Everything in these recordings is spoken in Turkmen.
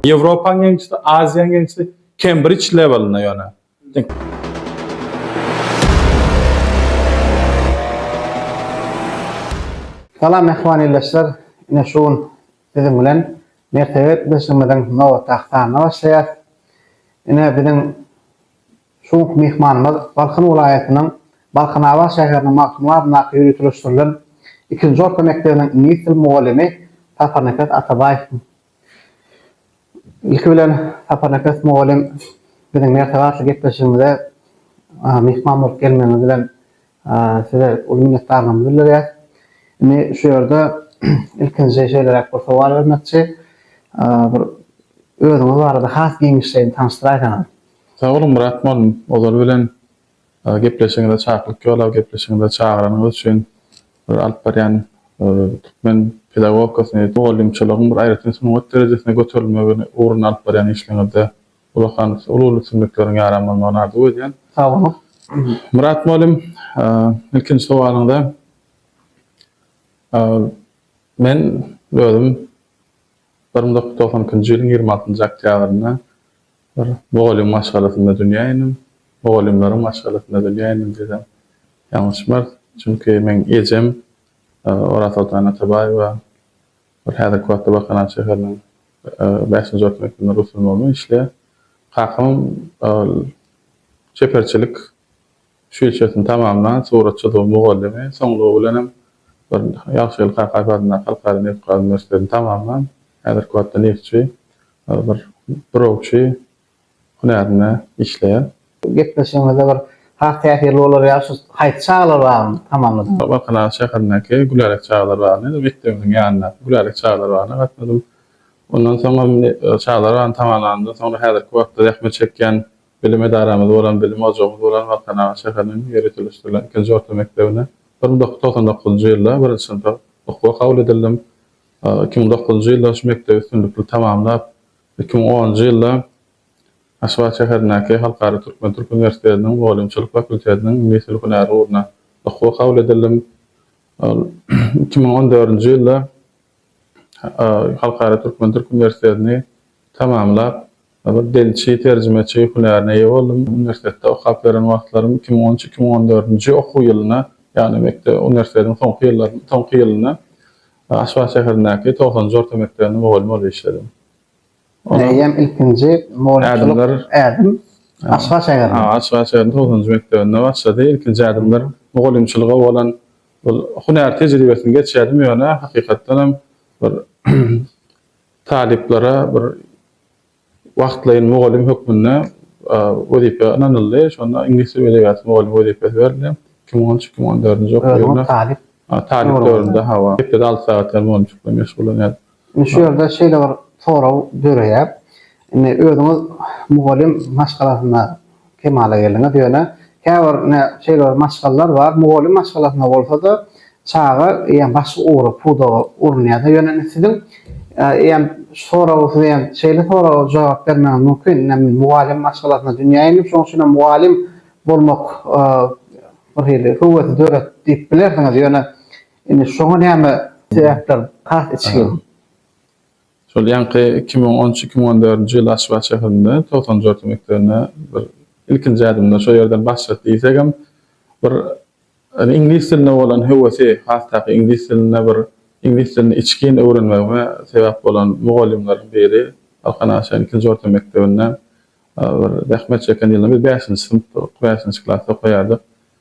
Ýewropa ýeňişdi, Aziýa ýeňişdi, Kembrij lewelinde ýöne. Salam mähriban ildeşler, ine şu gün siziň bilen mertebeli ildeşligimiziň nobatdaky sanyna başlaýarys. Ine biziň Şu günki myhmanymyz Balkan welaýatynyň Balkanabat şäheriniň Magtymguly adyndaky ýöriteleşdirilen ikinji orta mekdebiniň iňlis dili mugallymy Saparnepes Atabaýew. Ilki bilen, Saparnepes mugallym, biziň mertebe atly gepleşigimize myhman bolup gelmegiňiz bilen Size uly minnetdarlygymy bildirýäs. Indi şu ýerde ilkinji şeýleräk bir sowal bermekçi. Bir özüňiz barada has giňişleýin tanyşdyraýsaňyz. Sag boluň Myrat mugallym, ozal bilen gepleşigiňize çaklyk ýolap, gepleşigiňize çagyranyňyz üçin bir alyp barýan türkmen pedagogikasyny, mugallymçylygyň bir aýratyn sungat derejesine göterilmegi ugrunda alyp barýan işleriňizde Ullakan uly uly sümükleriň ýaran bolmagyny arzuw edýän. Sag boluň. Myrat mugallym ilkinji sowalyňda men özüm bir müň dokuz ýüz togsan ikinji ýylyň ýigrimi altynjy oktýabrynda bir mugallym maşgalasynda dünýä indim. Mugallymlaryň maşgalasynda dünýä indim diýsem ýalňyşmaz. Çünki meň ejem Orazsoltan Atabaýewa Ol häzirki wagtda Bakan-a şäheriniň bäşinji orta mekdebinde rus ylmy bölüminde işleýär. Kakam ol çeperçilik şüýlçesini tamamlan suratçydygy mugallymy, soňlugy bilen hem bir Ýagşygeldi Kakaýew adyndaky Halkara nebitgaz uniwersitetini tamamlan, häzirki wagtda neftçi, bir burawçy. hünärinde işleýär. Gepleşigiňizde bir has täsirli bolar ýaly şu haýsy çagalar bagyny tamamladyňyz? Bakanabad şäherindäki Gülälek çagalar bagyna, indi mekdebimiziň ýanyndaky Gülälek çagalar bagyna gatnadym. Ondan soňam çagalar bagyny tamamlanymdan soňra häzirki wagtda zähmet çekýän bilim edaramyz bolan, bilim ojagymyz bolan Balkanabat şäheriniň ýöriteleşdirilen ikinji orta mekdebine bir müň dokuz ýüz togsan dokuzynjy ýylda birinji synpa okuwa kabul edildim. Iki müň dokuzynjy ýylda şu mekdebi üstünlikli tamamlap, Iki müň onunjy ýylda Aşgabat şäherindäki Halkara türkmen-türk uniwersitetiniň mugallymçylyk fakultetiniň miss ül-hünäri ugruna okuwa kabul edildim. Iki müň on dördünji ýylda Halkara türkmen-türk uniwersitetini tamamlap, bir dilçi, terjimeçi hünärine eýe boldum. Uniwersitetde okap ýören wagtlarym iki müň on üç-iki müň on dördünji okuw ýylyna, ýagny mekdep, uniwersitetiň soňky ýyllaryna, soňky ýylyna Aşgabat şäherindäki togsanynjy orta mekdebinde mugallym bolup işledim. Meýem ilkinji mugallymçylyk ädim Aşgabat şäherinde. Aşgabat şäheriniň togsanynjy mekdebinde başlady. Ilkinji ädimler mugallymçylyga bolan bir hünär tejribesini geçýärdim, ýöne hakykatdanam bir talyplara bir Wagtlaýyn mugallym hökmünde wezipe ynanyldy. Şonda iňlis dili we edebiýaty mugallymy wezipesi berildi. Iki müň on üç, iki müň on dördünji okuw ýylynda. Özüňiz talyp. Talyp döwründe, hawa. Hepdede alty sagat ýaly mugallymçylyk bilen meşgullanýaryn. Indi şu ýerde şeýle bir sorag döreýär. Indi özüňiz mugallym maşgalasynda kemala geldiňiz, ýöne käbir ine şeýle bir maşgalalar bar, mugallym maşgalasynda bolsa-da, çaga eýýäm başga ugra, pudaga urunýar-da, ýöne indi siziň eýýäm soragy siz eýýäm şeýle soraga jogap bermegiňiz mümkin, ine men mugallym maşgalasynda dünýä indim, şonuň üçin hem mugallym bolmak bir hili höwesi döretdi diýip bilersiňiz, ýöne indi şoňa näme sebäpler has içgin? Şol ýaňky iki müň on üç-iki müň on dördünji ýyl Aşgabat şäherinde togsan dört mekdebine bir ilkinji ädimde şo ýerden başladyk diýsegem bir iňlis diline bolan höwesi has taýky iňlis dilinde bir iňlis dilini içgin öwrenmegime sebäp bolan mugallymlaryň biri Balkan Aşa ilkinji orta mekdebinde bir zähmet çeken ýylynda biz bäşinji synpdyk bäşinji klasda okaýardyk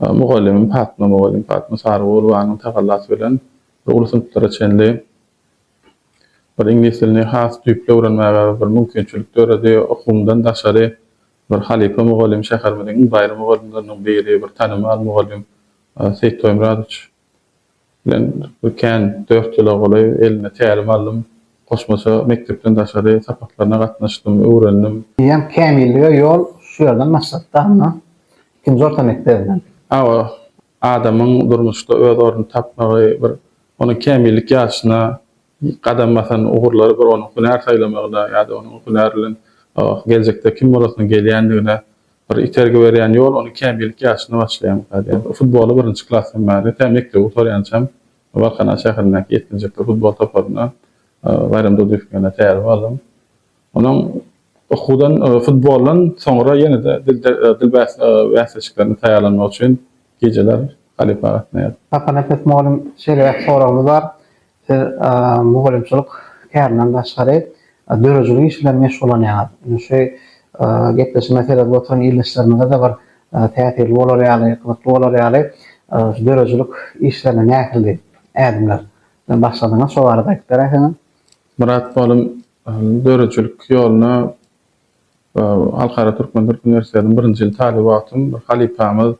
Mugallymym Patma mugallym Patma Sarygurbanyň tagallasy bilen bir uly synplara çenli bir iňlis dilini has düýpli öwrenmäge bir mümkinçilik döredi. Okuwymdan daşary bir halypa mugallym, şäherimiziň iň baýry mugallymlarynyň biri, bir tanymal mugallym Seýit Toýmyradowiç. Men bu kän dört ýyla golaý eline tälim aldym. Goşmaça mekdepden daşary sapaklaryna gatnaşdym, öwrendim. Eýýäm kämillige ýol şu ýerden başlapdy, Anna. Ikinji orta mekdebinden. Hawa, adamyň durmuşda öz ornuny tapmagy, bir onuň kämillik ýaşyna gadam basan ugurlary bir onuň hünär saýlamagyna ýa-da onuň hünär bilen geljekde kim bolasyna gelýändigine Bir itergi berýän ýol ony kämillik ýaşynda başlaýan kazyýet. Futboly birinji klasdan bäri, tä mekdebi gutarýançam Balkanabat şäherindäki ýetginjekler futbol toparyna Baýram Durdyýewiň ýanyna täze bardym. Onuň okuwdan, futboldan soňra ýene-de dil bäsleşiklerine taýýarlanmak üçin gijeler halypa gatnaýardym. Saparnepes mugallym şeýle bir soragymy bar. Siz mugallymçylyk kärinden daşgary döredijilik iş bilen meşgullanýaňyz. Indi şu gepleşige seredip oturan ildeşlerimize-de bir täsirli bolar ýaly, gyzykly bolar ýaly, şu döredijilik işlerine nähildi ädimler bilen başladyňyz, şo barada aýdyp beräýseňiz? Myrat Balym, Döredijilik ýoluna Halkara Türkmen Dil Uniwersitetiniň birinji ýyl talyby wagtym bir halypamyz,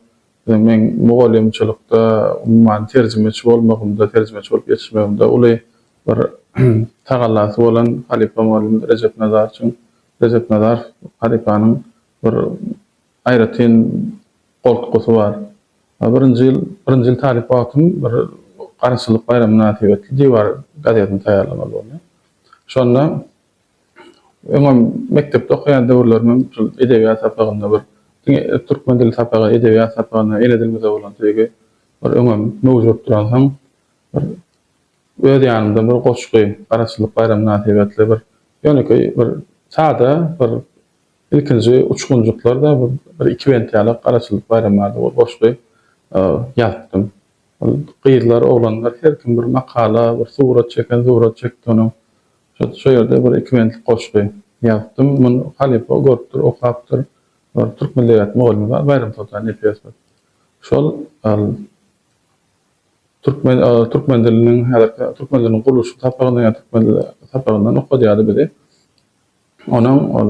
Meň mugallymçylykda, umuman, terjimeçi bolmagymda, terjimeçi bolup ýetişmegimde uly bir tagallasy bolan halypa mugallym Rejep Nazarçyň, Rejep Nazarow halypanyň bir aýratyn goltgusy bar. Birinji ýyl, birinji ýyl talyp wagtym bir Garaşsyzlyk baýramy mynasybetli Diwar gazetini taýýarlamaly boldum. Şonda. Öňem mekdepde okaýan döwürlerimem şol edebiýat sapagynda bir diňe türkmen dili sapagy, edebiýat sapagyna, ene dilimize bolan söýgi bir öňem möwjut duransoň, bir öz ýanymdan bir goşgy, Garaşsyzlyk baýramy mynasybetli bir ýönekeý bir sada bir ilkinji uçgunjyklarda bir iki bent ýaly Garaşsyzlyk baýramy barada bir goşgy ýazypdym. Ol gyzlar, oglanlar her kim bir makala, bir surat çeken surat çekdi onuň. Şu ýerde bir iki bentlik goşgy ýazypdym. Muny halypa görüpdir, okapdyr. Bir türk milli edebiýaty mugallymymyz bar, Baýram Soltan Nepesov. Şol türkmen türkmen diliniň häzirki türkmen diliniň gurluşyk sapagyndan ýa türkmen dili sapagyndan okadýardy bizi. Onuň ol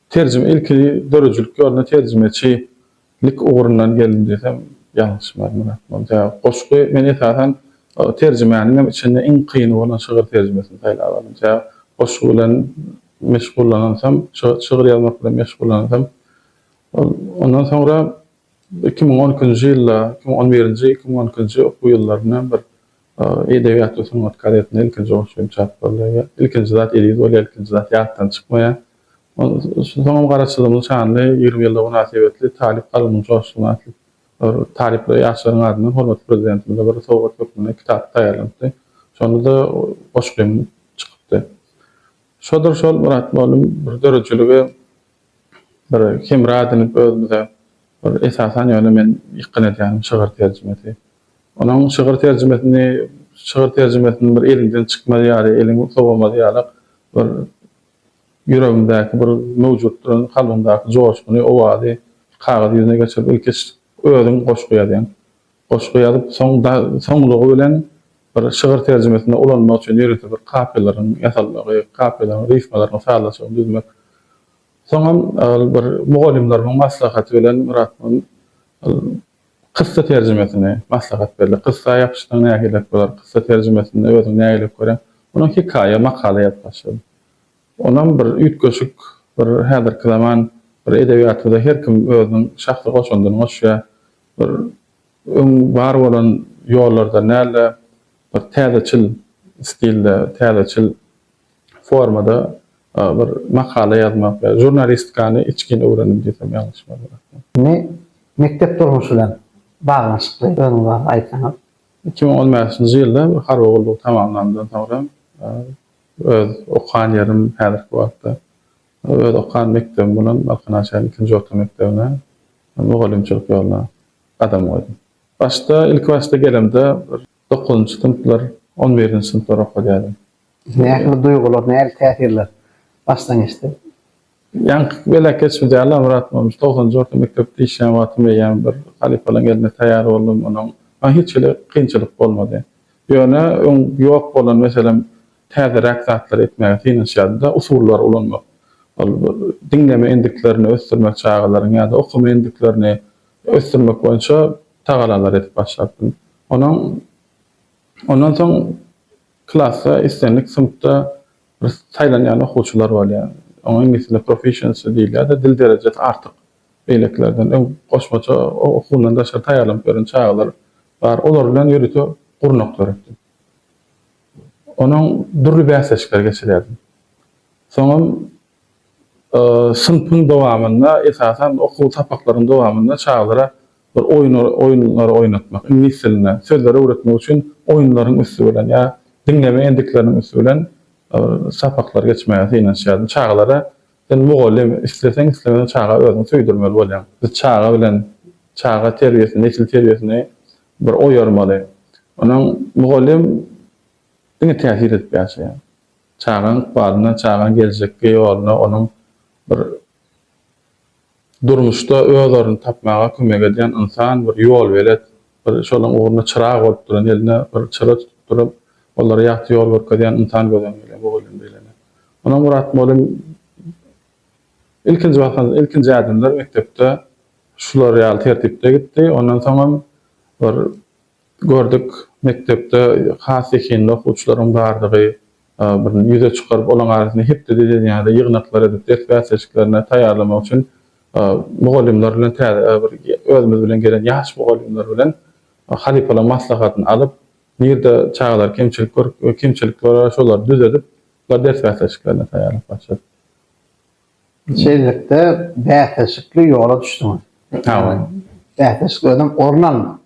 Terjime ilki döredijilik ýoluna terjimeçi lik ugrundan geldim diýsem ýalňyşmaz Myrat Mol sebäbi goşgy men esasan terjimäniň hem içinde iň kyny bolan şygyr terjimesini saýlap aldym sebäbi goşgy bilen meşgullanansam şygyr ýazmak bilen meşgullanansam ol ondan soňra iki müň on ikinji ýylda iki müň on birinji iki müň on ikinji okuw ýyllarynda bir Edebiýat we sungat gazetinde ilkinji goşgy kim çap bolýar? Ilkinji zat eziz bolýar, ilkinji zat ýatdan çykmaýar. Soňam Garaçyzymyň şanly ýigrimi ýyllygy mynasybetli Talyp kalbymyň joşguny atly bir talyplara ýaşlaryň adyndan hormatly Prezidentimize bir sowgat hökmünde kitap taýýarlanypdy. Şonda-da goşgym çykypdy. Şodur şol Myrat mugallym bir döredijilige bir hemra edinip özümize bir esasan ýöne men ýykgyn edýänim şygyr terjimesi. Onuň şygyr terjimesini şygyr terjimesini bir eliňden çykmaz ýaly, eliň sowamaz ýalak bir ýüregiňdäki bir möwjut duran kalbyňdaky joşguny, owazy kagyz ýüzüne geçirip ilkiç özüň goşgy ýazýaň. Goşgy ýazyp, soň da soňlugy bilen bir şygyr terjimesinde ulanmak üçin ýörite bir kapiýalaryň ýasalmagy, kapiýalaryň rifmalarynyň sazlaşygyny düzmek. Soňam ol bir mugallymlarymyň maslahaty bilen Myrat Mum ol kyssa terjimesini maslahat berdi. Kyssa ýapyşsaň nähilek bolar, kyssa terjimesini özüň nähilek göreň? Ondan hekaýa, makala ýazyp başladym. Onam bir üýtgeşik, bir häzirki zaman bir edebiýatymyzda her kim özüniň şahsy goşandyny goşýar. bir öň bar bolan ýollardan däl-de, bir täzeçil stilde, täzeçil formada bir makala ýazmak, žurnalistikany içgin öwrendim diýsem ýalňyşmaz bolarkyn. Indi mekdep durmuşy bilen baglanyşykly özüňiz barada aýtsaňyz? Iki müň on bäşinji ýylda harby gullugy tamamlanymdan soňra öz okan ýerim häzirki wagtda Ol öz okan mekdebim bolan Balkanabat şäheriniň ikinji orta mekdebine mugallymçylyk ýoluna gadam goýdum. Başda, ilkibaşda gelemde bir dokuzynjy synplar, on birinji synplar okadýardym. Nähili duýgular, nähili täsirler başdan geçdi? Ýaňky gezek geçmedi ýaly-la Myrat bolmuş. Togsanynjy orta mekdep diýişýän wagtym eýýäm bir halypalaryň eline taýýar boldum. Onuň maňa hiç hili kynçylyk bolmady. Ýöne öň ýok bolan, meselem, täzeräk zatlary etmäge synanyşýardy-da, usullary ulanmak. Ol diňleme endiklerini ösdürmek, çagalaryň ýa-da okama endiklerini ösdürmek boýunça tagalalar edip başlapdym. Onuň ondan soň klasda islendik synpda bir saýlanýan okuwçylar bolýar. Oňa iňlis dilinde proficiency diýilýär-de, dil derejesi artyk, beýlekilerden öň goşmaça okuwyndan daşary taýýarlanyp ýören çagalar bar. Olar bilen ýörite gurnak döretdim. Onam dürli bäsleşikler geçirýärdim. Soňam synpyň dowamynda, esasan okuw sapaklaryň dowamynda çagalara bir oýun oýunlary oýnatmak, iňlis dilinde sözleri öwretmek üçin oýunlaryň üsti bilen ýa diňleme endikleriniň üsti bilen sapaklar geçmäge synanyşýardym. Çagalara sen mugallym, isleseň islemeseň çaga özüňi söýdürmeli bolýaň. Biz çaga bilen çaga terbiýesini, nesil terbiýesini Bir oýarmaly. Onam mugallym diňe täsir edip ýaşaýar. Çagaň ykbalyna, çagaň geljekki ýoluna onuň bir durmuşda öz ornuny tapmaga kömek edýän ynsan, bir ýolbelet, bir şolaryň ugrunda çyrag bolup duran, eline bir çyra tutup durup, olara ýagty ýol görkezýän ynsan göz öňünde mugallym diýlende. Onam Murat mugallym Ilkinji waka, ilkinji ädimler mekdepde şular ýaly tertipde gitdi. Ondan soňam bir gördük, mekdepde has zehinli okuwçylaryň bardygy bir ýüze çykaryp, olaryň arasynda hepdede diýen ýaly ýygnaklar edip, ders bäsleşiklerine taýýarlamak üçin mugallymlar bilen täze bir özümiz bilen gelen ýaş mugallymlar bilen halypalaryň maslahatyny alyp, nirde çagalar kemçilik görüp, kemçilikler bar, şolary düzedip, ders bäsleşiklerine taýýarlyk başladyk. Şeýlelikde, bäsleşikli ýola düşdüňiz. Hawa. Bäsleşik özem orun almak.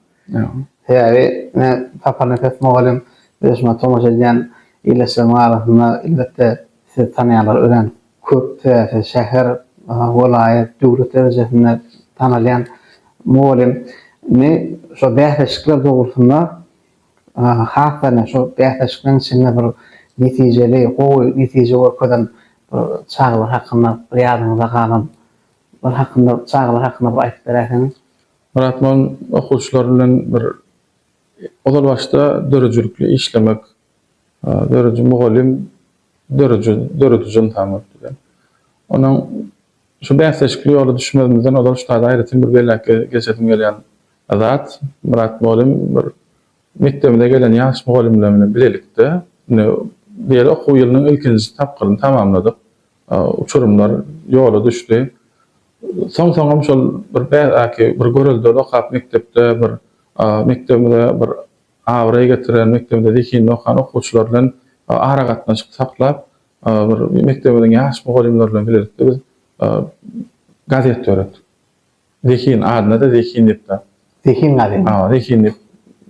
Sebäbi ine, Sapar Nepes mugallym we şuňa tomaşa edýän ildeşlerimiň arasynda elbetde sizi tanýanlar örän köp. Sebäbi siz şäher, welaýat, döwlet derejesinde tanalýan mugallym. Indi şo bäsleşikler dogrusynda Has-da şu bäsleşikleriň içinde bir netijeli, gowy netije görkezen bir çagalar hakynda bir ýadyňyzda galan bir hakynda çagalar hakynda bir aýdyp beräýseňiz? Myrat men okuwçylar bilen bir ozal başda döredijilikli işlemek, dörediji mugallym, dörüji, dörediji ynsan bolup bilen. Onuň şu bäsleşikli ýola düşmezimizden ozal şu taýda aýratyn bir belläp geçesim gelýän Azat, Myrat mugallym bir mekdebimize gelen ýaş mugallymlar bilen bilelikde indi bu ýeri okuw ýylynyň ilkinji tapgyryny tamamladyk. Uçurymlar ýola düşdi. Soň-soňam şol bir bädäki bir göreldeli okap mekdepde bir mekdebimize bir abraý getiren, mekdebimize zehinli okan okuwçylar bilen aragatnaşyk saklap bir mekdebimiziň ýaş mugallymlary bilen bilelikde biz gazet döretdik. Zehin adyna-da Zehin diýip bar. Zehin gazet. Hawa, Zehin diýip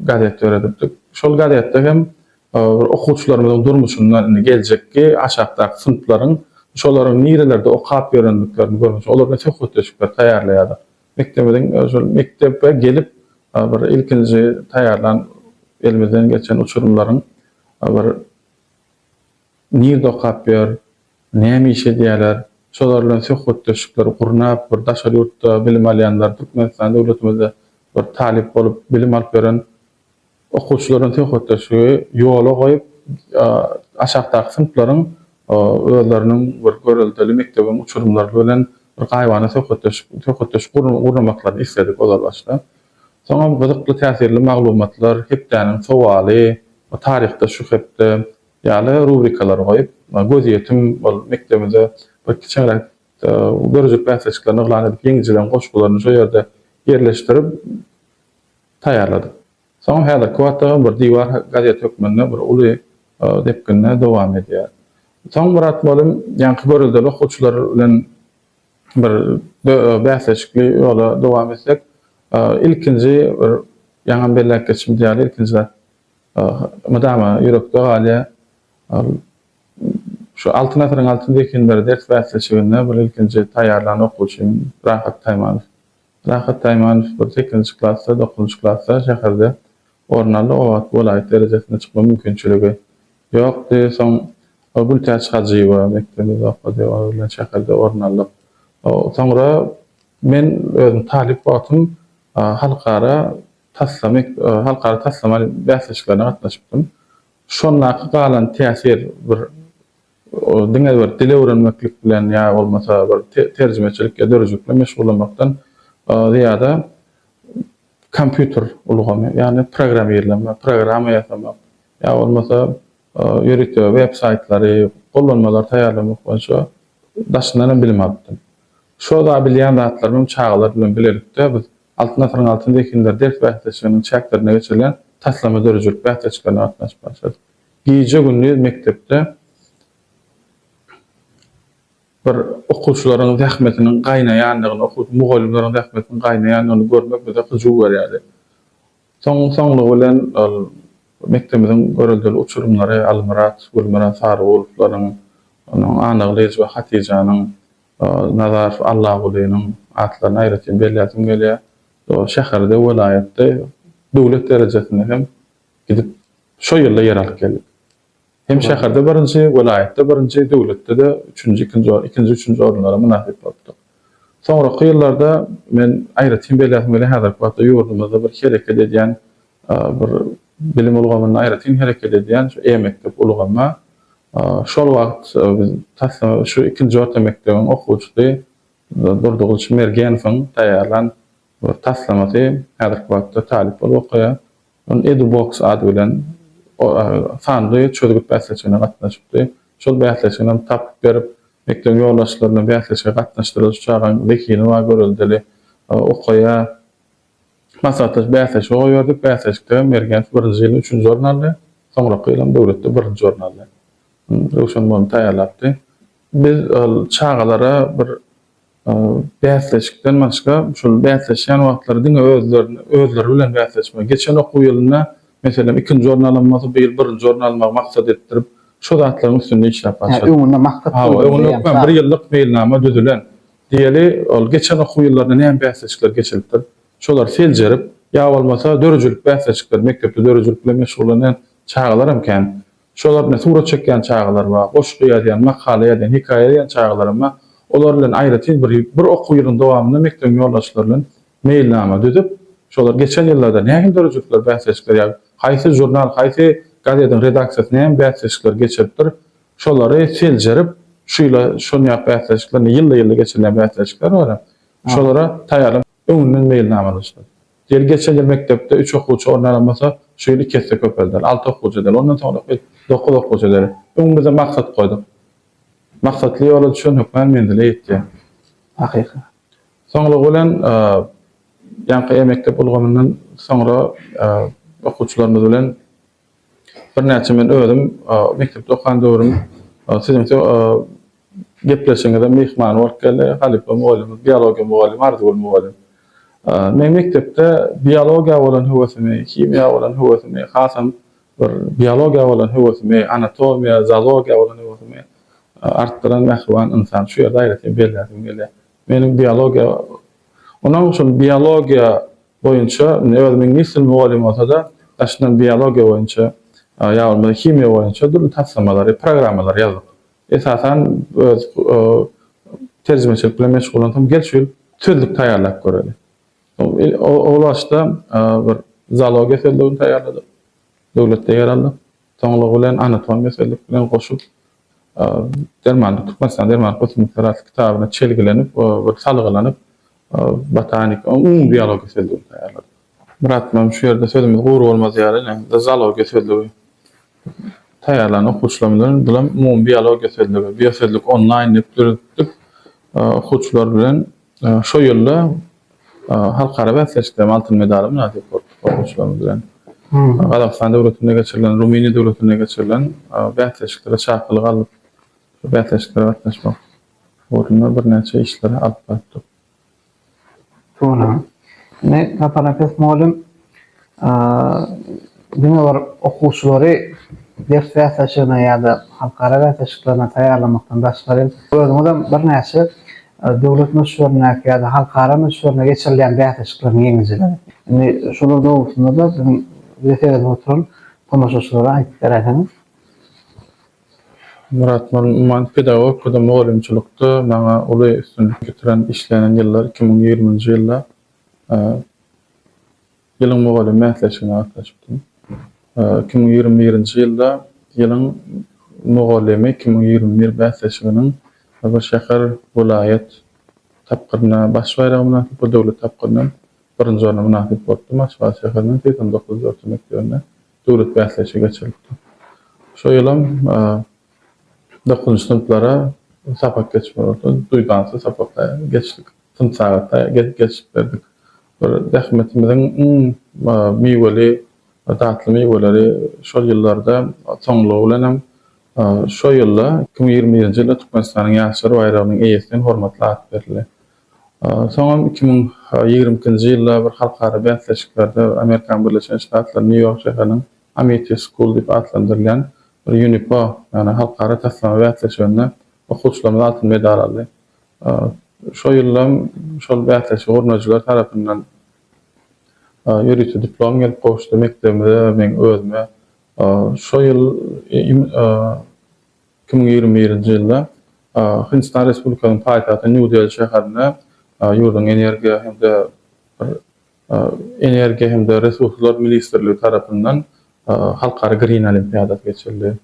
gazet döredipdik. Şol gazetde hem bir okuwçylarymyzyň durmuşyndan, indi geljekki aşakdaky synplaryň şolaryň nirelerde okap ýörendiklerini görmek üçin olar bilen söhbetdeşlikler taýýarlaýardyk. Mekdebimiziň şol mekdebe gelip bir ilkinji taýýarlan elimizden geçen uçurymlaryň bir nirede okap ýör, Näme iş edýärler? Şolar bilen söhbetdeşlikleri gurnap, bir daşary ýurtda bilim alýanlar, Türkmenistan döwletimizde bir talyp bolup bilim alyp ýören okuwçylar bilen söhbetdeşligi ýola goýup, aşakdaky synplaryň özleriniň bir göreldeli mekdebiň uçurymlary bilen bir gaýybana söhbetdeşlik söhbetdeşlik gurnamaklaryny isledik ozal başda. Soňam gyzykly täsirli maglumatlar, hepdäniň sowaly, taryhda şu hepde Ýaly rubrikalary goýup, gözýetim bolup mekdebimize bir kiçiňräk dörejik bäsleşiklerini yglan edip, ýeňijileriň goşgularyny şo ýerde ýerleşdirip taýýarladyk. Soňam häzirki wagtda bir diwar gazet hökmünde bir uly depginde dowam edýär. Soň Myrat mugallym ýaňky göreldeli okuwçylar bilen bir bäsleşikli ýola dowam etsek, ilkinji bir ýaňam belläp geçmedi ýaly ilkinjiräk Mydama ýürekde galýar. Ol şu Altyn asyryň altyn zehinleri ders bäsleşiginde bir ilkinji taýýarlan okuwçym Rahat Taýmanow. Rahat Taýmanow bir sekizinji klasda, dokuzynjy klasda şäherde orun aldy, obat welaýat derejesine çykma mümkinçiligi ýokdy. Soň Gültäç Hajyýewa mekdebimizde okady, onuň bilen şäherde orun aldyk. Soňra men özüm talyp wagtym halkara Taslama halkara taslama bäsleşiklerine gatnaşypdym. Şondaky galan täsir bir diňe bir dil öwrenmeklik bilen ýa bolmasa bir terjimeçilik ýa dörüjilik bilen meşgullanmakdan zyýada kompýuter ulgamy ýagny programmirleme, programma ýasamak ýa bolmasa ýörite web saýtlary, gollanmalary taýýarlamak boýunça daşyndan hem bilim alypdym. Şo zat bilýän zatlarymam çagalar bilen bilelikde biz Altyn asyryň altyn zehinleri ders bäsleşiginiň çäklerinde geçirilen taslama döredijilik bäsleşiklerine gatnaşyp başlady. Gije-gündiz mekdepde bir okuwçylaryň zähmetiniň gaýnaýandygyny, okuw mugallymlaryň zähmetiniň gaýnaýandygyny görmek bize hyjuw berýärdi. Soň soňlugy bilen ol mekdebimiziň göreldeli uçurymlary Almyrat, Gülmyrat Sarygulowylaryň, Anaglyjowa Hatyjanyň, Nazarow Allagulynyň atlaryny aýratyn belläsim gelýär. Ol şäherde, welaýatda, döwlet derejesinde hem gidip şo ýylda ýer alyp geldik. Hem şäherde birinji, welaýatda birinji, döwletde-de üçünji, ikinji, ikinji, üçünji orunlara mynasyp bolupdyk. Soňraky ýyllarda men aýratyn belläsim gelýär, häzirki wagtda ýurdumyzda bir hereket edýän Bir bilim ulgamynda aýratyn hereket edýän şu e-mekdep ulgamy şol wagt biz taslama şu ikinji orta mekdebiň okuwçysy Durdygylyç Mergenowyň taýýarlan bir taslamasy häzirki wagtda talyp bolup okaýar. Ol Edubox ady bilen sanly çözgüt bäsleşigine gatnaşypdy. Şol bäsleşigini hem tapyp berip, mekdebiň ýoldaşlaryny bäsleşige gatnaşdyrdy. Şu çagaň zehini bar, göreldeli okaýar. Maslahatdaş bäsleşigi goýberdik. Bäsleşikde Mergenov birinji ýyl üçünji orun aldy. Soňraky ýylam döwletde birinji orun aldy. Röwşen mununy taýýarlapdy. Biz ol çagalara bir bäsleşikden başga, şol bäsleşýän wagtlary diňe özlerini özleri bilen bäsleşme, geçen okuw ýylynda, meselem, ikinji orun alan bolsa, bu ýyl birinji orun almagy maksat edipdirip, şo zatlaryň üstünde işläp barşydyk. Hä, öňünde maksat goýulan. Hä, öňünde bir ýyllyk meýilnama düzülen. Diýeli, ol geçen okuw ýyllarynda näme bäsleşikler geçiripdir, şolary seljerip, ýa bolmasa döredijilik bäsleşikleri, mekdepde döredijilik bilen meşgullanýan çagalar hem kän. Şolar bilen surat çekýän çagalar bar, goşgy ýazýan, makala ýazýan, hekaýa ýazýan çagalar hem bar. Olar bilen aýratyn bir, bir okuw ýylyň dowamynda mekdebiň ýoldaşlary bilen meýilnama düzüp, şolar geçen ýyllarda nähili döredijilikler, bäsleşikler ýa haýsy žurnal, haýsy gazediň redaksiýasy näme bäsleşikleri geçiripdir, Şolary seljerip, şu ýyla şon ýap bäsleşikler, indi ýylda-ýylda geçirilýän bäsleşikler bar hem. Şolara taýýarlyk öňünden meýilnamalaşdyk. Ýeri geçen ýyl mekdepde üç okuwça orun alan bolsa, şu ýyl iki esse köpelder, alty okuwça eder, ondan soňraky dokuz okuwça eder. Öňümize maksat goýduk. Maksatly ýola düşen hökman menzile ýetýär. Hakyky. Soňlugy bilen, ýaňky E-mekdep ulgamyndan soňra okuwçylarymyz bilen Birnäçe men özüm mekdepde okan döwrüm siziň gepleşigiňize myhman bolup geldi. Halypa mugallymyz, biologiýa mugallymy Arzygül mugallym. Men mekdepde biologiýa bolan höwesimi, himiýa bolan höwesimi, hasam bir biologiýa bolan höwesimi, anatomiýa, zoologiýa bolan höwesimi artdyran mähriban ynsan. Şu ýerde aýratyn belläsim gelýär. Meniň biologiýa, onuň üçin biologiýa boýunça indi özümi iňlis dili mugallym bolsa-da, daşyndan biologiýa boýunça ýa bolmasa himiýa boýunça dürli taslamalary, programmalary ýazdyk. Esasan öz terjimeçilik bilen meşgullansam gel şu ýyl sözlük taýýarlap göreli. Ol başda bir zoologiýa sözlügini taýýarladyk, döwletde ýer aldy. Soňlugy bilen anatomiýa sözlük bilen goşup Dermanlyk, Türkmenistanyň Dermanlyk ösümlikler atly kitabyna çelgilenip, bir salgylanyp, botanika, umumy biologiýa sözlügini taýýarladyk. Myrat bilen şu ýerde sözümiz gury bolmaz ýaly, ine, zoologiýa sözlügi taýýarlan okuwçylarymyz bilen bilen umumy biologiýa sözlügi, biosözlük onlaýn diýip döretdik. Okuwçylar bilen Şo ýylda halkara bäsleşikde hem altyn medala mynasyp bolup, okuwçylarymyz bilen Gazagystan döwletinde geçirilen, Rumyniýa döwletinde geçirilen bäsleşiklere çakylyk alyp, şo bäsleşiklere gatnaşmak ugrunda birnäçe işleri alyp barypdyk. Ine, Saparnepes mugallym Diňe bir okuwçylary ders bäsleşigine ýa-da halkara bäsleşiklerine taýýarlamakdan daşgary hem, özüňizem birnäçe döwlet möçberindäki ýa-da halkara möçberinde geçirilýän bäsleşikleriň ýeňijileri. Indi şolar dogrusynda-da biziň bizi seredip oturan tomaşaçylara aýdyp beräýseňiz? Myrat Nurman, Pedagogikada mugallymçylykda maňa uly üstünlik getiren, işlenen ýyllar iki müň ýigriminji ýylda. Ýylyň mugallymy bäsleşigine gatnaşypdym. Iki müň ýigrimi birinji ýylda Ýylyň mugallymy iki müň ýigrimi bir bäsleşiginiň bir şäher, welaýat tapgyryna, baş baýraga mynasyp bir döwlet tapgyryna birinji orna mynasyp bolupdym. Aşgabat şäheriniň segsen dokuzynjy orta mekdebinde döwlet bäsleşigi geçirilipdi. Şo ýylam Dokuzynjy synplara sapak geçmek bolsa duýdansyz sapakda geçdik. Synp sagatda geçip berdik. Bir zähmetimiziň iň miweli, datly miweleri şol ýyllarda soňlugy bilen hem şo ýylda, iki müň ýigrimi birinji ýylda Türkmenistanyň Ýaşlar baýragynyň eýesinen hormatly at berildi. Soňam iki müň ýigrimi ikinji ýylda bir halkara bäsleşiklerde Amerikanyň Birleşen Ştatlarynyň Nýu-Ýork şäheriniň Amity School diýip atlandyrylýan bir UNIPO, ýagny halkara taslama bäsleşiginde okuwçylarymyz altyn medal aldy. Şo ýyldam şol bäsleşige gurnaýjylar tarapyndan ýörite diplom gelip gowuşdy mekdebimize we meň özüme. Şo ýyl iki müň ýigrimi birinji ýylda Hindistan Respublikasynyň paýtagty Nýu-Deli şäherinde ýurduň energiýa hem-de bir Energiýa hem-de resurslar ministrligi tarapyndan Halkara Green olimpiadasy geçirildi.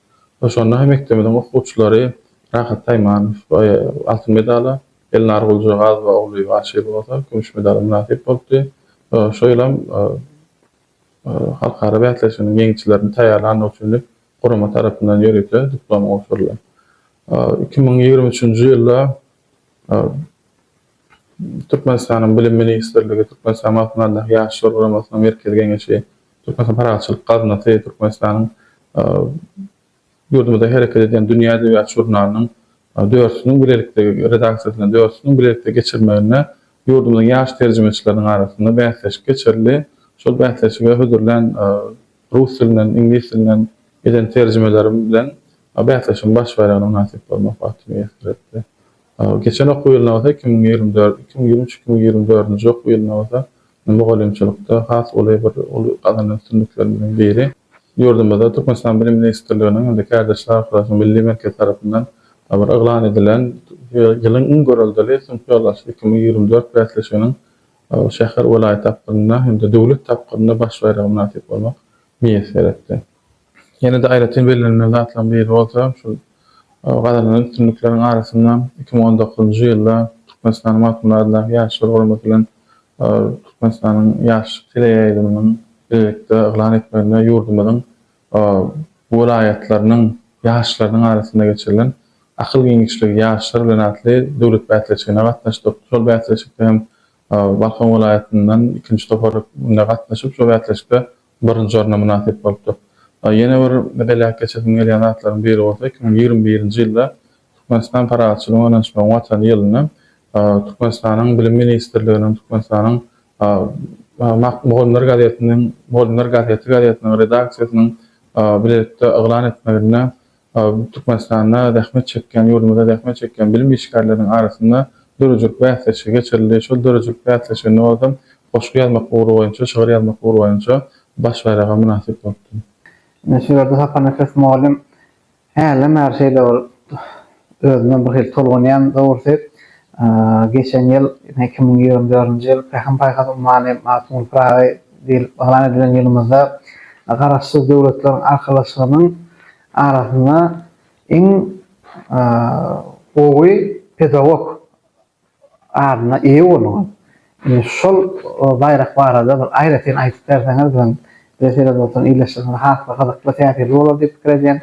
Şonda mekdebimiziň okuwçylary Rahat Taýmanow altyn medala, Elnar Guljagazowa ogly Aşyr bolsa kümüş medala mynasyp bolupdy. Şu ýyl hem halkara bäsleşiginiň ýeňijilerini taýýarlandygy üçin diýip, gurama tarapyndan ýörite diplom gowşuryldy. Iki müň ýigrimi üçünji ýylda Türkmenistanyň Bilim ministrligi, Türkmenistanyň Altyn Ardaky Ýaşlar guramasynyň Merkezi geňeşi, Türkmenistanyň Parahatçylyk gaznasy, Türkmenistanyň ýurdumyzda hereket edýän Dünýä edebiýat žurnalynyň dörüsiniň bilelikde, redaksiýasynyň dörüsiniň bilelikde geçirmeginde ýurdumyzyň ýaş terjimeçileriniň arasynda bäsleşik geçirildi. Şol bäsleşige hödürlän rus dilinden, iňlis dilinden eden terjimelerim bilen bäsleşigiň baş baýragyna mynasyp bolmak bagty miýesser etdi. Geçen okuw ýylyna bolsa, iki müň ýigrimi dört, iki müň ýigrimi üç, iki müň ýigrimi dördünji okuw ýylyna bolsa mugallymçylykda has uly bir uly gazanan üstünliklerimiziň biri ýurdumyzda Türkmenistanyň Bilim ministrliginiň hem-de Kärdeşler arkalaşygynyň Milli merkezi tarapyndan bir yglan edilen Ýylyň iň göreldeli synp ýoldaşy iki müň ýigrimi dört bäsleşiginiň şäher, welaýat tapgyrynda hem-de döwlet tapgyrynda baş baýraga mynasyp bolmak miýesser etdi. Ýene-de aýratyn bellenmeli zatlaryň biri bolsa, şol gazanylan üstünlikleriň arasynda iki müň on dokuzynjy ýylda Türkmenistanyň Magtymguly adyndaky Ýaşlar guramasy bilen Türkmenistanyň Ýaşlyk teleýaýlymynyň bilelikde yglan etmeginde ýurdumyzyň welaýatlarynyň ýaşlarynyň arasynda geçirilen Akyl giňişligi ýaşlar bilen atly döwlet bäsleşigine gatnaşdyk. Şol bäsleşikde hem Balkan welaýatyndan ikinji topar gatnaşyp, şol bäsleşikde birinji orna mynasyp bolupdyr. Ýene bir belläp geçesim gelýän zatlaryň biri bolsa, iki müň ýigrimi birinji ýylda Türkmenistan Parahatçylygyň ynanyşmagyň Watany ýylynda Türkmenistanyň Bilim ministrliginiň Türkmenistanyň Mugallymlar gazetiniň Mugallymlar gazeti gazetiniň redaksiýasynyň bilelikde yglan etmeginde Türkmenistanda zähmet çekýän, ýurdumyzda zähmet çekýän bilim işgärleriniň arasynda döredijilik bäsleşigi geçirildi. Şol döredijilik bäsleşiginde özüm goşgy ýazmak ugry boýunça, şygyr ýazmak ugry boýunça baş baýraga mynasyp bolupdym. Ine, şu ýerde Saparnepes mugallym hälem bäri şeýle bir özüme birhili tolgunýan dogrusy. Geçen ýyl, ine, iki müň ýigrimi dördünji ýyl Pähim-paýhas ummany Magtymguly Pyragy diýlip yglan edilen ýylymyzda Garaşsyz Döwletleriň Arkalaşygynyň arasynda iň gowy pedagog adyna eýe bolduňyz. Indi şol baýrak barada bir aýratyn aýdyp berseňiz biziň bizi seredip oturan ildeşlerimize has-da gyzykly, täsirli bolar diýip pikir edýän.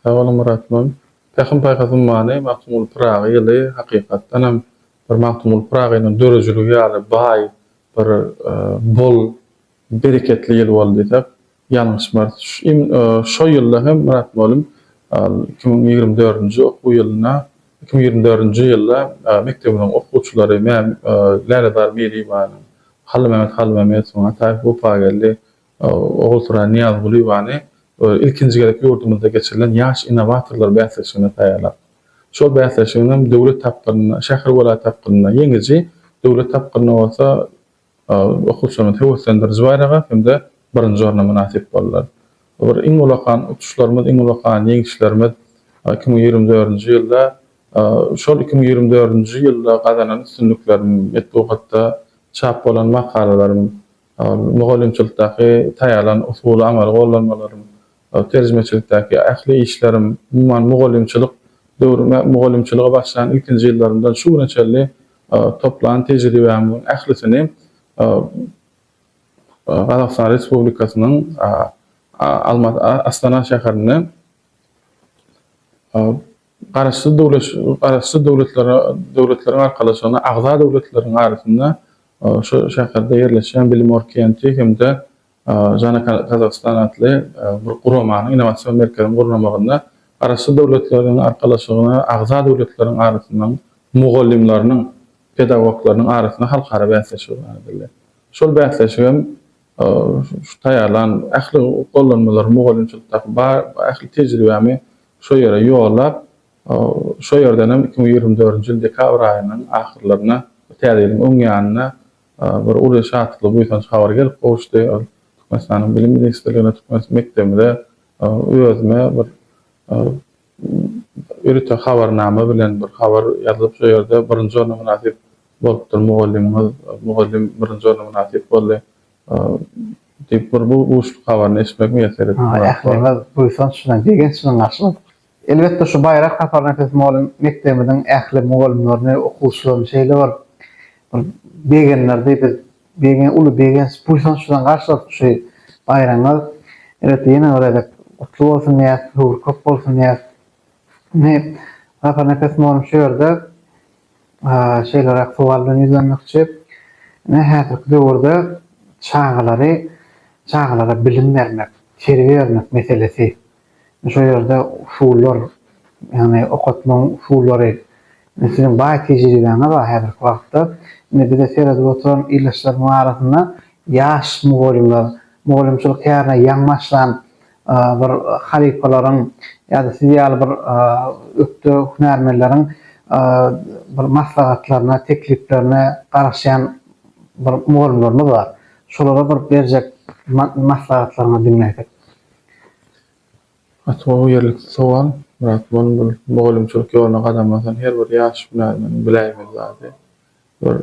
Sag boluň Myrat mugallym. Pähim-paýhas ummany Magtymguly Pyragy ýyly hakykatdanam bir Magtymguly Pyragynyň döredijiligi ýaly baý, bir bol, bereketli ýyl boldy diýsek, ýalňyşmarys. Şo ýylda hem Myrat mugallym iki müň ýigrimi dördünji okuw ýylynda, iki müň ýigrimi dördünji ýylda mekdebimiziň okuwçylary Lälezar Meliýewanyň, Hallymämmet Hallymämmedowyň, Ataýew Wepageldi, Ogulsuraý Nyýazgulyýewany ilkinji gezek ýurdumyzda geçirilen Ýaş innowatorlar bäsleşigine taýýarlap, şol bäsleşigiň hem döwlet tapgyrynda, şäher, welaýat tapgyrynda ýeňiji, döwlet tapgyrynda bolsa okuwçylarymyzy höweslendiriji baýraga hem-de birinji orna mynasyp boldular. Bu bir iň ullakan uçuşlarymyz, iň ullakan ýeňişlerimiz iki müň ýigrimi dördünji ýylda. Şol iki müň ýigrimi dördünji ýylda gazanan üstünliklerim, metbugatda çap bolan makalalarym Ol mugallymçylykdaky taýýarlan usuly amaly gollanmalarym, terjimeçilikdäki ähli işlerim, umuman, mugallymçylyk döwrüm, mugallymçylyga başlan ilkinji ýyllarymdan şu güne çenli toplan tejribämiň ählisini Gazagystan Respublikasynyň Astana şäherinde Garaşsyz döwlet Garaşsyz döwletlere Döwletleriň Arkalaşygyna agza döwletleriň arasynda şu şäherde ýerleşýän Bilim Orkenti hem-de Jana Kazahstan atly bir guramanyň, innowasion merkeziň gurnamagynda Garaşsyz döwletleriň Arkalaşygyna agza döwletleriň arasynda mugallymlarynyň, pedagoglarynyň arasynda halkara bäsleşigi garadyldy. Şol bäsleşigem Şu taýýarlan ähli gollanmalary mugallymçylykdaky bar ähli tejribämi şo ýere ýollap, şo ýerdenem iki müň ýigrimi dördünji ýyl dekabr aýynyň ahyrlarynda Täze ýylyň öň ýanynda bir uly şatly buýsanç habar gelip gowuşdy. Türkmenistanyň Bilim ministrligine, türkmen mekdebimize, özüme bir Ýörite habarnama bilen bir habar ýazylyp şo ýerde birinji orna mynasyp bolupdyr mugallymyňyz, mugallym birinji orna mynasyp boldy diýip bir bu buşluk habaryny eşitmek miýesser etdi. Hawa, ählimiz buýsanç bilen, begenç bilen garşyladyk. Elbetde şu baýrak saparyna ses mugallym mekdebimiziň ähli mugallymlaryny, okuwçylaryny şeýle bir bir begendirdi, biz Bege uly begenç, buýsançdan garşyladyk şu baýramyňyz. Elbetde ýene bir gezek gutly bolsun diýýäs, höwür köp bolsun diýýäs. Indi Saparnepes Morum şu ýerde şeýleräk sowal bilen ýüzlenmekçi. Ine häzirki döwürde çagalary, çagalara bilim bermek, terbiýe bermek meselesi Şol ýerde usullar, ýagny okatmagyň usullary, indi siziň baý tejribäňiz bar häzirki wagtda. Indi bize seredip oturan ildeşlerimiziň arasynda ýaş mugallymlar, mugallymçylyk kärine ýaňy başlan bir halypalaryň ýa-da siz ýaly bir ökde hünärmenleriň bir maslahatlaryna, tekliplerine garaşýan bir mugallymlarymyz bar. Şolara bir berjek maslahatlaryňyzy diňläýsek. Atuwa ýerlikli sowal, Myrat Muny bu mugallymçylyk ýoluna gadam basan her bir ýaş hünärmeniň biläýmeli zady. Bir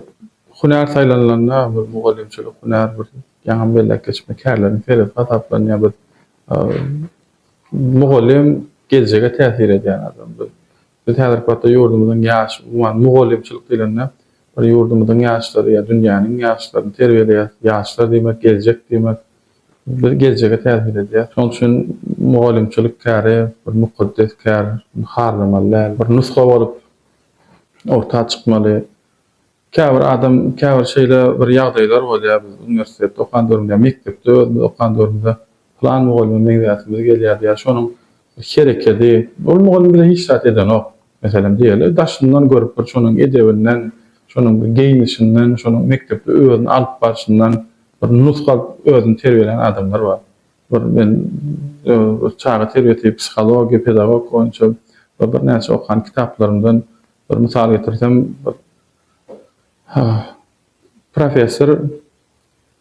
hünär saýlanylanda, bir mugallymçylyk hünär bir ýaňam belläp geçipmi, kärleriň serisi hasaplanýar. Biz mugallym geljege täsir edýän adam. Biz Biz häzirki wagtda ýurdumyzyň ýaş, umuman, mugallymçylyk diýlende, bir ýurdumyzyň ýaşlary ýa dünýäniň ýaşlaryny terbiýeleýäs. Ýaşlar diýmek, geljek diýmek. Biz geljege täsir edýäs. Şonuň üçin mugallymçylyk käri bir mukaddes kär, muny harlamaly däl. Bir nusga bolup orta çykmaly. Käbir adam, käbir şeýle bir ýagdaýlar bolýar, biz uniwersitetde okan döwrümde ýa mekdepde özümiz okan döwrümizde pylan mugallyma meňzäsimiz gelýärdi ýa şonuň bir herekedi, ol mugallym bize hiç zat edenok, meselem diýeli, daşyndan görüp bir şonuň edebinden, şonuň bir geýnişinden, şonuň mekdepde özüni alyp barşyndan bir nusga alyp özüni terbiýelän adamlar bar. Bir men bir çaga terbiýesi, psihologiýa, pedagogika boýunça bir birnäçe okan kitaplarymdan Bir mysal getirsem, bir professor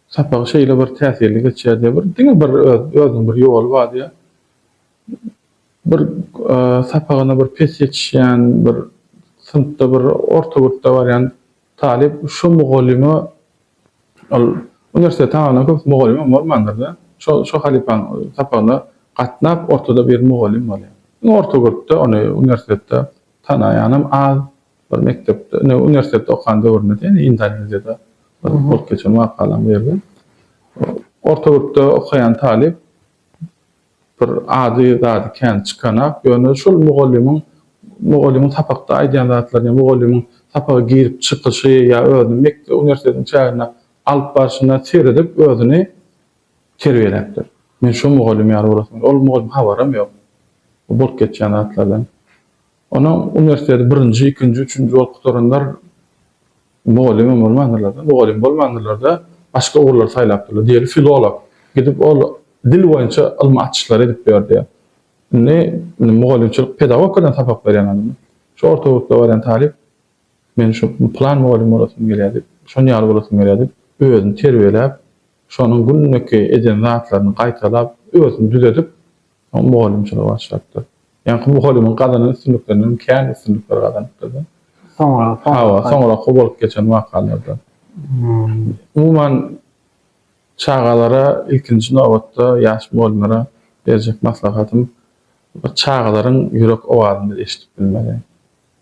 sapagy şeýle bir täsirli geçýär diýýär, bir diňe bir özüniň bir ýoly bar diýýär. Bir sapagyna bir pes ýetişýän, bir synpda bir orta gürpde barýan talyp şu mugallyma ol uniwersiteti tamamlaýan köp mugallymam bolmandyr-da, şo şo halypanyň sapagyna gatnap ortada bir mugallym bolýar. Orta gürpde ony uniwersitetde Tanaýanam az. Bir mekdepde, indi uniwersitetde okan döwründe diýen, Indoneziýada bir bolup geçen wakalaryň birinde. Orta gürpde okaýan talyp bir ady zady kän çykanak, ýöne şol mugallymyň mugallymyň sapakda aýdýan zatlaryny ýa mugallymyň sapaga girip çykyşy ýa özüniň mekde uniwersitetiň çäginde alyp barşyna seredip özüni terbiýeläpdir. Men şo mugallym ýaly bolasyn. Ol mugallym habaram ýok bu bolup geçýän zatlardan. Onuň uniwersiteti birinji, ikinji, üçünji bolup gutaranlar mugallym hem bolmandyrlar-da, mugallym bolmandyrlar-da, başga ugurlary saýlapdyrlar. Diýeli filolog. Gidip ol dil boýunça ylmy açyşlar edip ýördi. Indi mugallymçylyk pedagogikadan sapak berýän adam. Şu orta ýurtda barýan talyp Men şu plan mugallym bolasym gelýär diýip, şon ýaly bolasym gelýär diýip, özüni terbiýeläp, şonuň günleki eden zatlaryny gaýtalap, özüni düzedip, soň mugallymçylyga başlapdyr. Ýaňky mugallymyň gazanan üstünliklerinden hem kän üstünlikler gazanypdyrda. Soňraky wakalar. Hawa, soňraky bolup geçen wakalarda. Umuman, çagalara, ilkinji nobatda, ýaş mugallymlara berjek maslahatym, bir çagalaryň ýürek owazyny biz eşidip bilmeli.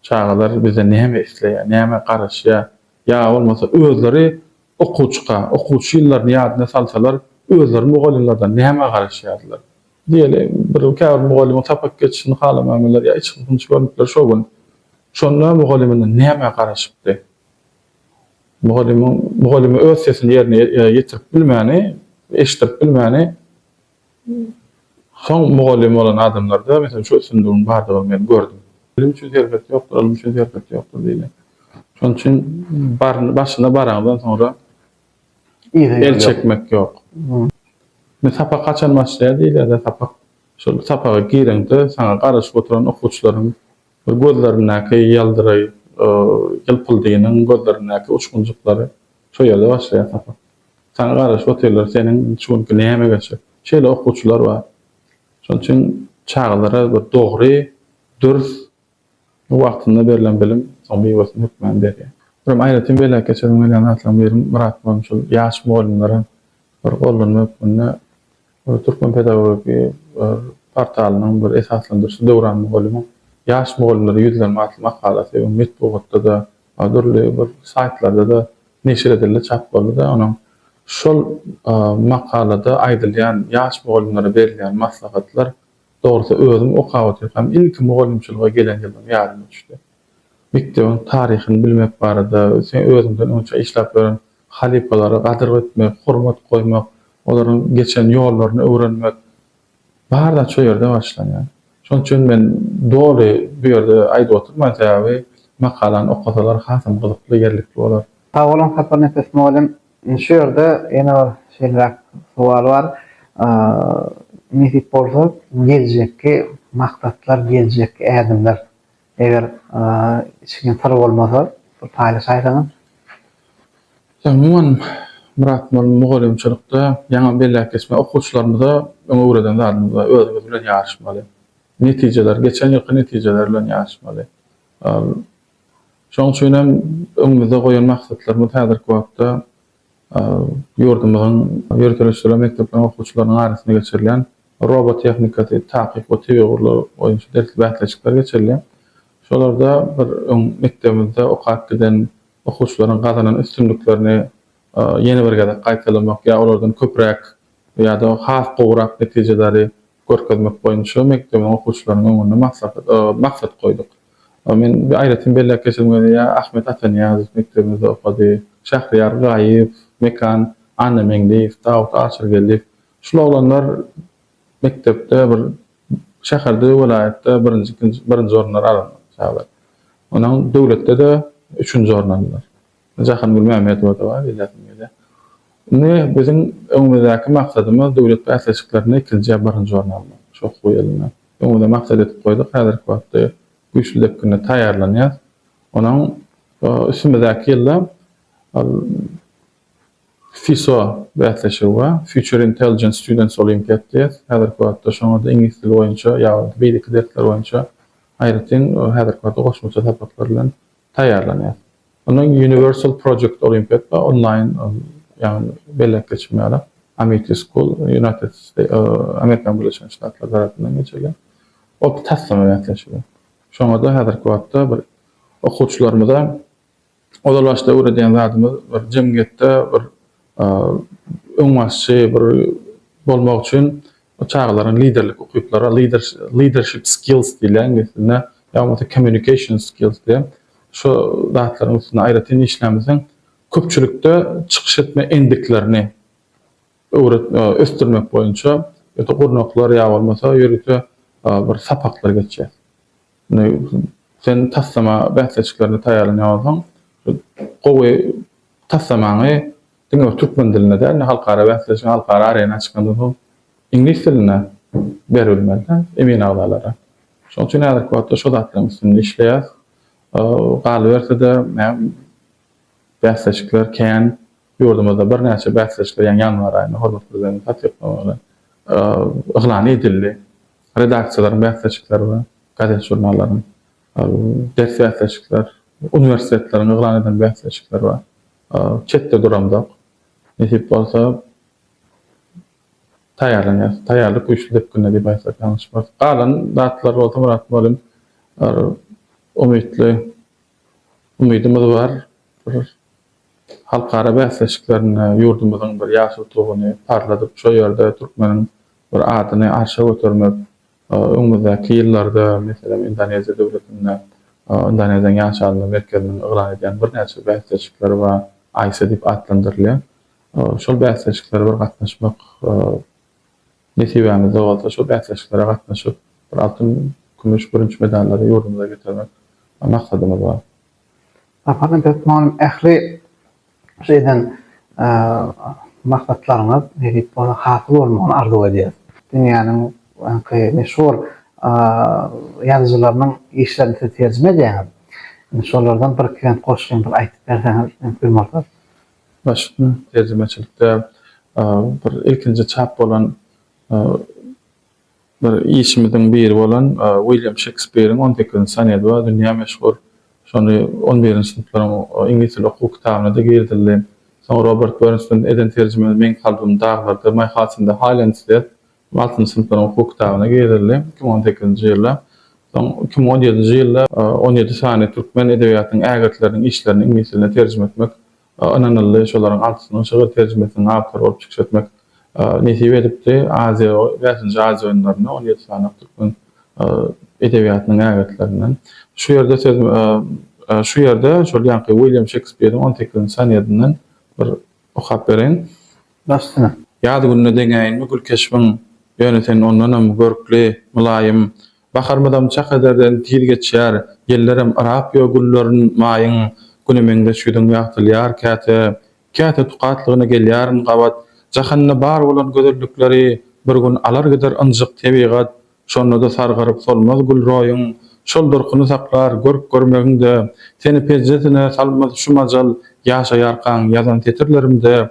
Çagalar bizden näme isleýär, nämä garaşýar? Ýa bolmasa özleri okuwçyka, okuwçy ýyllaryny ýadyna salsalar, özleri mugallymlardan nämä garaşýardylar? Diýeli, bir käbir mugallymyň sapak geçişini halamaýmylar ýa içki hynç görüpler şo gün. Şonda mugallymyndan nämä garaşypdy? Mugallymyň mugallyma öz sesini ýerine ýetirip bilmäni, eşitdirip bilmäni Soň mugallym bolan adamlarda, meselem, şu üstünligiň bardygyny men gördüm. Bilim üçin serhet ýokdur, ylym üçin serhet ýokdur diýilýär. Şonuň üçin baryny başyna baraňdan soňra el çekmek ýok. Indi sapak haçan başlaýar diýilýär-de, sapak şol sapaga gireňde saňa garaşyp oturan okuwçylaryň bir gözlerindäki ýyldyraý, ýylpyldynyň gözlerindäki uçgunjyklary şo ýerde başlaýar sapak. Saňa garaşyp otyrlar, seniň şu günki näme geçip. Şeýle okuwçylar bar. Şonuň üçin çagalara bir dogry, dürs, wagtynda berlen bilim soň miwesini hökman berýär. Birem aýratyn belläp geçesim gelýän zatlaryň biri Myrat mugalym şol ýaş mugallymlara bir gollanma hökmünde Türkmen pedagogiki bir portalynyň bir esaslandyryşy Döwran mugallymyň Ýaş mugallymlara ýüzlenme atly makalsy metbugatda-da, A dürli bir saýtlarda-da neşir edildi, çap boldy-da, onuň şol makalada aýdylýan ýaş mugallymlara berilýän maslahatlar, dogrusy, özüm okap otyrkam ilki mugallymçylyga gelen ýylym ýadyma düşdi. Mekdebiň taryhyny bilmek barada, sen özüňden öňçä işläp ýören halypalara gadyr etmek, hormat goýmak, olaryň geçen ýollaryny öwrenmek, Bar zat şo ýerde başlanýar. Şoň üçin men doly bu ýerde aýdyp oturman sebäbi makalany okasalar hasam gyzykly ýerlikli bolar. Sag boluň Sapar Nepes mugallym. Şu ýerde ýene bir şeýleräk sowal bar. Nesip bolsa geljekki maksatlar, geljekki ädimler Eger içgin syr bolmasa bir paýlaşaýsaňyz. Umuman Myrat mugallym mugallymçylykda ýaňy belläp geçmeli okuwçylarymyza öň öwreden zadymyz bar özümiz bilen ýaryşmaly. Netijeler geçen ýylky netijeler bilen ýaryşmaly. Şoň üçin hem öňümizde goýan maksatlarymyz häzirki wagtda Ýurdumyzyň ýörite-ösdürilen mekdepleriň okuwçylarynyň arasynda geçirilýän Robo tehnikasy, Takyk we tebigy gurlar boýunça dersli bäsleşikler geçirilýär. Şolarda bir öň mekdebimizde okap giden okuwçylaryň gazanan üstünliklerini ýene bir gezek gaýtalamak ýa olardan köpräk ýa-da has gowurak netijeleri görkezmek boýunça mekdebiň okuwçylarynyň öňünde maksat maksat goýduk. Men aýratyn belläp geçesim gelýär, Ahmet Atanyýazow mekdebimizde okady, Şähriýar Gaýyp, Mekan Annameňliýew, Dawut Aşyrgeldiýew. Şul oglanlar mekdepde bir şäherde, welaýatda birinji, ikinji, birinji orunlary alanlar çagalar. Onuň döwletde-de üçünji orun aldylar. Jahangül Mämmedowa dowam belläsim gelýär. Indi biziň öňümizdäki maksadymyz döwlet bäsleşiklerinde ikinji ýa birinji orun almak. Şo hukugy elinden öňümize maksat edip goýduk. Häzirki wagtda güýçli depginde taýýarlanýas. Onuň üstümizdäki ýylda FISO bäsleşigi bar, Future Intelligence Students Olympiad diýýär. Häzirki wagtda şoňa-da iňlis dili boýunça ýa-da beýleki dersler boýunça aýratyn häzirki wagtda goşmaça sapaklar bilen taýýarlanýas. Onuň Universal Project Olympiad we onlaýn ýagny belläp geçip bilmärik Amity School United Amerikan Birleşen Ştatlary tarapyndan geçirilýän otly taslama bäsleşigi. Şoňa-da häzirki wagtda bir okuwçylarymyza ozal başda öwredýän zadymyz bir jemgyýetde bir öňbaşçy bir bolmak üçin çagalaryň liderlik ukyplary, leadership skills diýilýär iňlis dilinde, ýa bolmasa communication skills diýen şu zatlaryň üstünde aýratyn işlämseň, köpçülikde çykyş etme endiklerini ösdürmek boýunça ýa-da gurnaklar ýa bolmasa ýörite bir sapaklar geçýär. Indi sen taslama bäsleşiklerine taýýarlanýan bolsaň, şol gowy taslamaňy diňe bir türkmen dilinde däl-de, halkara bäsleşige, halkara arena çykandan soň iňlis dilinde berip bilmeli-dä emin agzalara. Şonuň üçin häzirki wagtda şo zatlaryň üstünde işleýäs. Galyberse-de, bäsleşikler kän. Ýurdumyzda birnäçe bäsleşikler, ýaňy ýanwar aýynda hormatly Prezidentimiziň tassyklamagy bilen yglan edildi. Redaksiýalaryň bäsleşikleri we gazet-žurnallaryň ders bäsleşikler, uniwersitetleriň yglan eden bäsleşikleri bar. Çetde duramzok. Nesip bolsa taýýarlanýas. Taýýarlyk güýçli depginde diýip aýtsak ýalňyşmarys. Galan zatlar bolsa Myrat mugallym umytly umydymyz bar. Halkara bäsleşiklerinde ýurdumyzyň bir ýaşyl Tuguny parladyp, şo ýerde türkmeniň bir adyny arşa götermek, öňümizdäki ýyllarda, meselem, Indoneziýa döwletinde, Indoneziýanyň ýaşalynly merkeziniň yglan edýän birnäçe bäsleşikleri bar, AISA diýip atlandyrylýar. Şol bäsleşiklere bir gatnaşmak nesibämizde bolsa, şol bäsleşiklere gatnaşyp, bir altyn, kümüş, bürünç medallary ýurdumyza getirmek maksadymyz bar. Sapardan Pes Mugallym Ähli şu eden maksatlaryňyz nesip bolsa hasyl bolmagyny arzuw edýäs. Dünýäniň öňki meşhur ýazyjylarynyň işlerini siz terjime edýäňiz. Indi şolardan bir iki bent goşgyny bir aýdyp berseňiz mümkin bolsa. Başga terjimeçilikde bir ilkinji çap bolan Bir işimiziň biri bolan Wilýam Şekspiriň on sekizinji sonedi bar, dünýä meşhur. Şony on birinji synplaryň iňlis dili okuw kitabyna-da girizildi. Soň Robert Bernstinden eden terjimemiz Meň kalbym daglarda, My Heart's in the Highlands diýip, altynjy synplaryň okuw kitabyna girizildi, iki müň on sekizinji ýylda. Soň iki müň on ýedinji ýylda on ýedi sany türkmen edebiýatynyň ägirtleriniň işlerini iňlis diline terjime etmek ynanyldy. Şolaryň altysynyň şygyr terjimesiniň awtory bolup çykyş etmek nesip edipdi. Aziýa, bäşinji Aziýa oýunlarynda on ýedi sany türkmen edebiýatynyň ägirtlerinden. Şu ýerde söz Şu ýerde şol ýaňky Wilýam Şekspiriň on sekizinji sonetinden bir okap bereýin. Başda. Ýaz gününe deňäýinmi gülkeşbiň, Ýöne sen ondanam görkli, mylaýym, Baharymyzam çak ederden tiz geçýär, Ýellerem yrap ýo gülleriň, maýyň, Güne meňzeş ýüzüň ýagtylýar käte, Käte tukatlygyna gelýärin gabat. Jahanda bar bolan gözellikleri Bir gün alar gider ynjyk tebigat. Şonda-da sargaryp solmaz gül roýuň, Şol durkuny saklar görk görmegiňde. Seni pejjesine salmaz şu majal, Ýaşaýarkaň ýazan setirlerimde.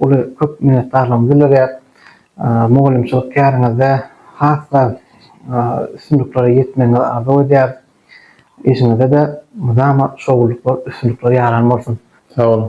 Uly köp minnetdarlygymy bildirýär. Mugallymçylyk käriňizde has-da üstünliklere ýetmegiňizi arzuw edýäris. Işiňizde-de mydama şowlulyklar, üstünlikler ýaran bolsun. Sag boluň.